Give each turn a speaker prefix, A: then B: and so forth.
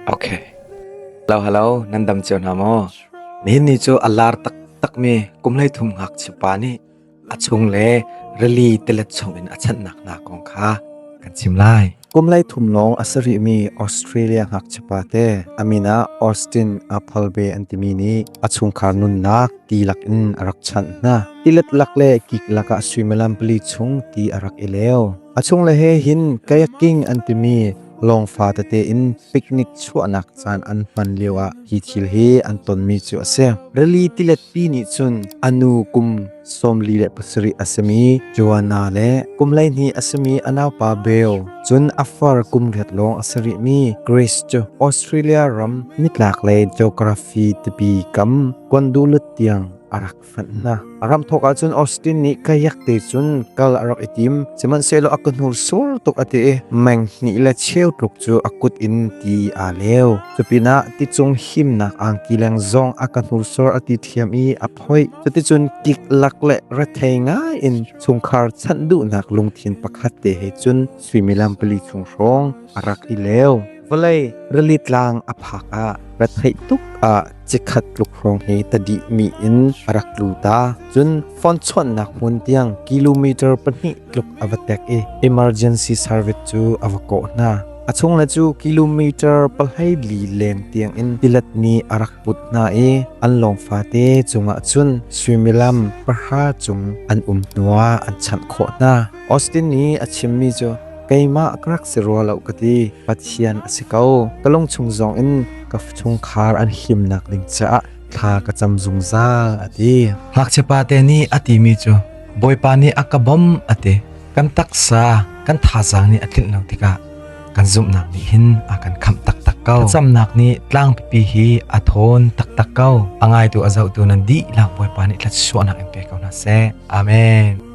A: Okay. Halo halo, nan dam cio hna maw? Nihin ni cu a lar taktakmi kumhlei thum ngakchiapa nih a chung le rili tilet chungin a chanhnak hna kong kha kan chim lai. Kumlei thum lawng
B: a sarihmi Australia ngakchiapa te Amina Austin Apolbe an timi nih a chungkhar nunnak ti lakin a rak chanh hna. Tilet lak le kik lakah suimilam pali chung ti a rak i leu. A chung le he hin kayaking an timi Lawng fate tein picnic chuahnak caan an hman lio ah hi thil hi an tonmi cu a si. Rili tilet pi nih cun a nu kum sawmli le pasarih a simi Joanna le kum hleihnih a simi a naupa Beo cun a far kum riat lawng a si rihmi Grace cu Australia ram nitlak le geography tipi kam kondulut tiang a rak fat hna a ram thawk ah cun Austin nih ka yak te cun kal a rak i tim sihmanhsehlaw a kuhnur sur tuk a ti i meng hnih le cheu tluk cu a kut in ti aa lew cupinah ti cung himnak angki leng zong a ka hnursur a ti thiam i a phoih cuticun kik lak le rethei ngai in chungkhar chanh duhnak lungthin pakhat te he cun suimilam pali chung hrawng a rak i lew vawlei rili tlang a phak ah retheih tuk ah cikhat tluk hrawng hi tadih mi in a rak lu ta cun phone chuannak hmun tiang kilometer pahnih tluk a va tek i emergency service cu a va kawh hna a chung le cu kilometer pahai li lem tiang in pilat ni a rak put hna i an lawng fate cungah cun suimilam pahra cung an um nuwa an chanh khawh hna Austin nih a chimmi cu keimah ka rak si rua lo ka ti. Pathian a si ko. Ka lung chung zong in ka chungkhar an himnak ding caah thla ka cam zungzal a ti. Ngakchia pate
A: nih a timi cu Bawipa nih a ka bawm a ti. Kan taksa, kan thazaang nih a tlinh lo tikah kan zumhnak nih hin a kan khamh taktak ko. Ka camnak nih tlang pipi hi a thawn taktak ko. A ngaitu a zohtu nan dih lak Bawipa nih thlat suahnak in pe ko hna seh. Amen.